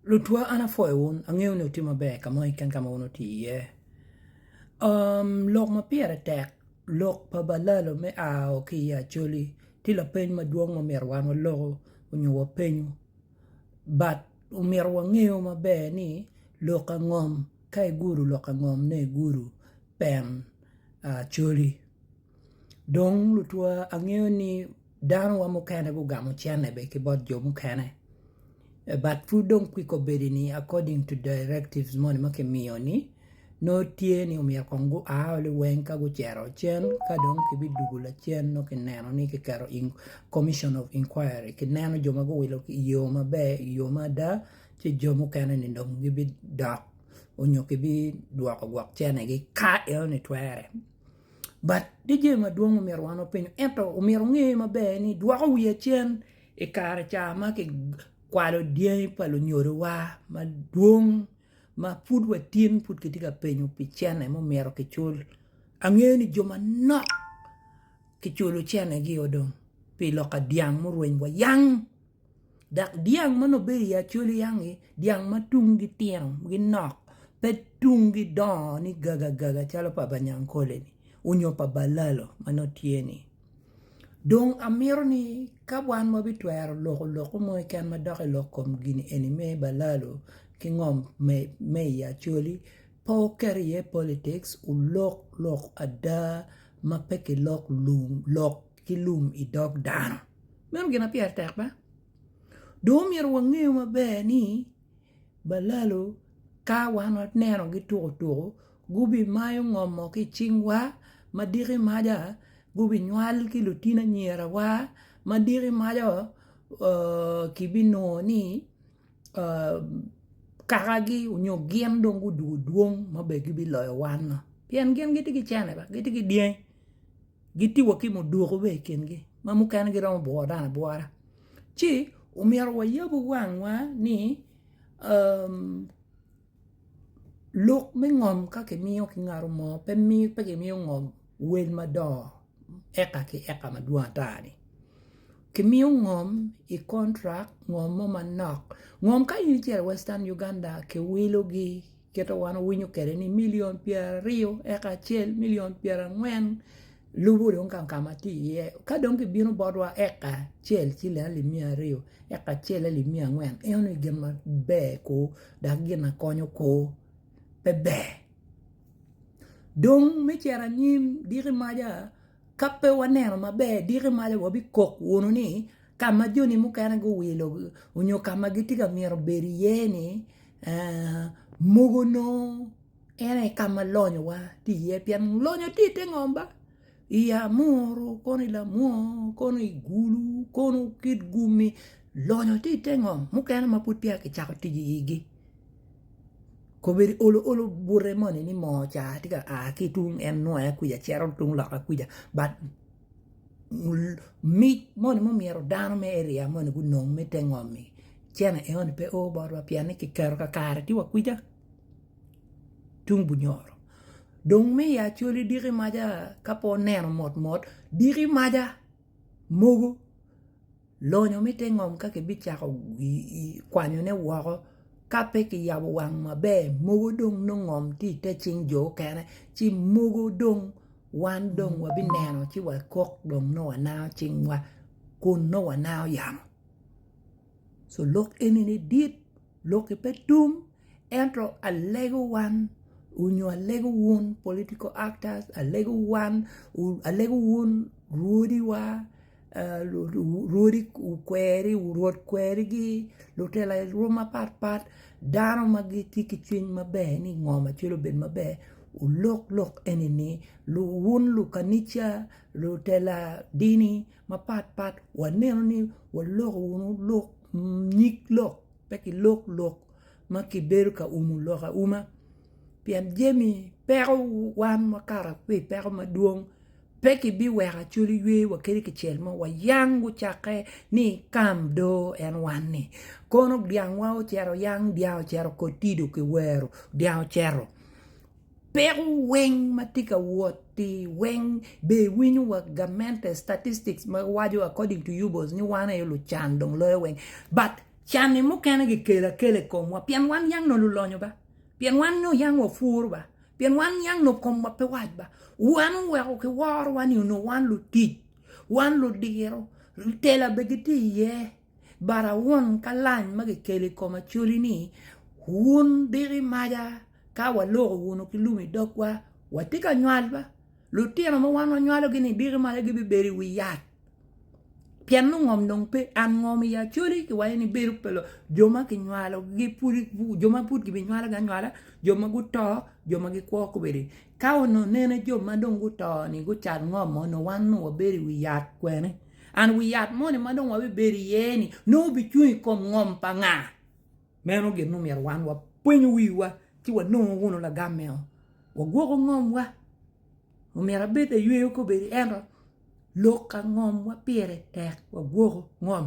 Lutwa an apwoyo wun, angeyo ni wutye maber ka moni keken ka ma wun wutye iye. Lok ma pire tek, lok pa balalo me ao ki i Acholi ti lapeny madwong ma omyero wan waloku onyo wapenyu, but omyero wangeyo maber ni lok angom ka igudo lok angom ne igudo pen Acholi dong lutwa angeyo ni Dano wa mukene gugamo cene bene ki bot jo mukene but pud dong kwik obedi ni according to directives moni ma ki miyo ni nongo tye ni omyero kong gu a oli weng ka gucito cen ka dong ki bidugu lacen nongo ki neno ni ki keto in commission of inquiry ki neno jo ma guwilo i yo maber i yo ma ada ci jo mukene ni dong gi bidok onyo ki bidwoko gwok cene gi ka enoni twere but tye jami madwong ma omyero wan wapenyo ento omyero onge maber ni dwoko wiya cen i kare ca ma ki kwalo dyangi pa lunyodowa madwong ma pud watin pud kitye ka penyo pi cene ma omyero ki cul angeyo ni jo manok ki culo cene gi o dong pi lok pa dyang mureny wa yang dok dyang ma nongo bedo i acolyangi dyang ma tungi tino ginok pe tungi dongo ni gagagaga calo pa banyankole onyo pa balalo ma nongo tye ni dong amito ni ka wan wabitwero loko lokke mo keken madok i lok kom gin eni me balalo ki ngom me i acoli pe wuket iye politics wulok lok ada ma pe kilok lum lok ki lum i dog dano. Meno gin ma pire tek be. Dong omyero wangeyo maber ni balalo ka wan wanenogi tuku tuku gubimayo ngomo ki i cingwa ma diki maca gubinywal ki lutino anyirawa ma diki maca kibinongo ni kakagi nyo gin dong gudoko dwong ma bene gibiloyo wan-nu pien gin gitye ki cene, gitye ki dyangi. gitye wa ki mudwoko bene i kingi ma mukene giromo bworo dano abwora ci omyero wayab wangwa ni lok me ngom ka kimiyo kingato mo pe kimiyo ngom wel madongo eka ki eka madwong ata ni kimiyo ngom i contract ngom mo manok ngom ka in icito i western Uganda kiwilo gi kite wan owinyo kwede ni milion pyeraryo eka acel milion pyerangwen lubo dong gang ka ma tye iye ka dong ki bino botwa eka acel ci leno limiya aryo eka acel aye limiya angwen ineno ni gin ma ber kor dok gin ma konyo kor pe ber dong me cito anyim diki maca Ka pe waneno maber, diki malo wabikok wunu ni ka ma joni mukene guwilo nyo ka ma gitye ka myero obed iye-ni mogo nongo en aye ka ma lonyowa tye iye pien lonyo tye i te ngom ba, i amuru kono i lamwony kono i gulu kono kit gumi lonyo tye i te ngom mukene ma pud peya kicako tic iyigi. kobedi olo olo bute moni ni moo ca tye ka a ki tung en nongo aye kwija cito tung loka kwija but mic moni ma omyero dano me eria moni gunong me te ngomi cene enoni pe o botwa pien ni kiketo kakare tye wa kwija tung bunyoro dong me i acholi diki maca ka pe oneno mot mot diki maca mogo Lonyo me te ngom ka kibicako kwanyone woko ka pe kiyabo wang maber mogo dong nongo ngom tye i te cing jo okene ci mogo dong wan dong wabineno ci wakok dong nongo wanango cingwa kun nongo wanango yamo so lok eni ni dit loki pe tum ento alego wan onyo alego wun political actors alego wan alego wun rwodiwa. Rwodi okweri, rwod kwerigi, lutela lwom mapat pat, dano ma gitye ki cwiny maber ni ngo ma cwelo bedo maber olok lok enini, wun lukanica, lutela dini mapat pat wanenu ni waloko wunu lok nyig lok pe ki lok lok ma kibedo ka umo lok auma pien jami peko wan wakato ki ipeko madwong. Pe kibiweko acoli ywe wa kadi kicel mo, wayang gucakke ni ikam do en wanni. Kono dyangwa ocito yang, dyang ocito kotido ki wero, dyang ocito. Peko weng ma tye ka wot-ti weng be iwinyo wa gamente, statistics ma waco according to you boss ni wan aye lucan dong loyo weng. But can-ni mukene gikelo akela i komwa pien wan yang nongo lulonyo ba, pien wan nongo yang wapwuru ba. Pien wan niang nongo komwa pe wac ba, wan oweko kiworowa ni onongo wan lutic, wan ludiro, tela bene gitye iye, but awun ka lany ma kikelo i kom Acholi ni wun diko i maca ka waloko wunu ki lum i dogwa, watye ka nywal ba, lutino ma wan wanywalogi ni diko i maca gibibedo i wi yat. Pien nongo ngom dong pe, an ngom i Acholi kiwaco ni bedo pa jo ma kinywalogi pud, jo ma pud gibinywalogi anywala, jo ma guto, jo ma gikwo kobeddi. Ka onongo nene jo ma dong guto-ni gucal ngom mo nongo wan onongo wabedo i wi yat kwene? And wi yat moni ma dong wabibedo iye-ni nongo bicung i kom ngom pa nga? Meno gin ma omyero wan wapweny wiwa ci wanongo wunu lagam meno, wagwoko ngomwa. Omyero abed ayweyo kobedi ento lok angom wa pire tek wagwoko ngom?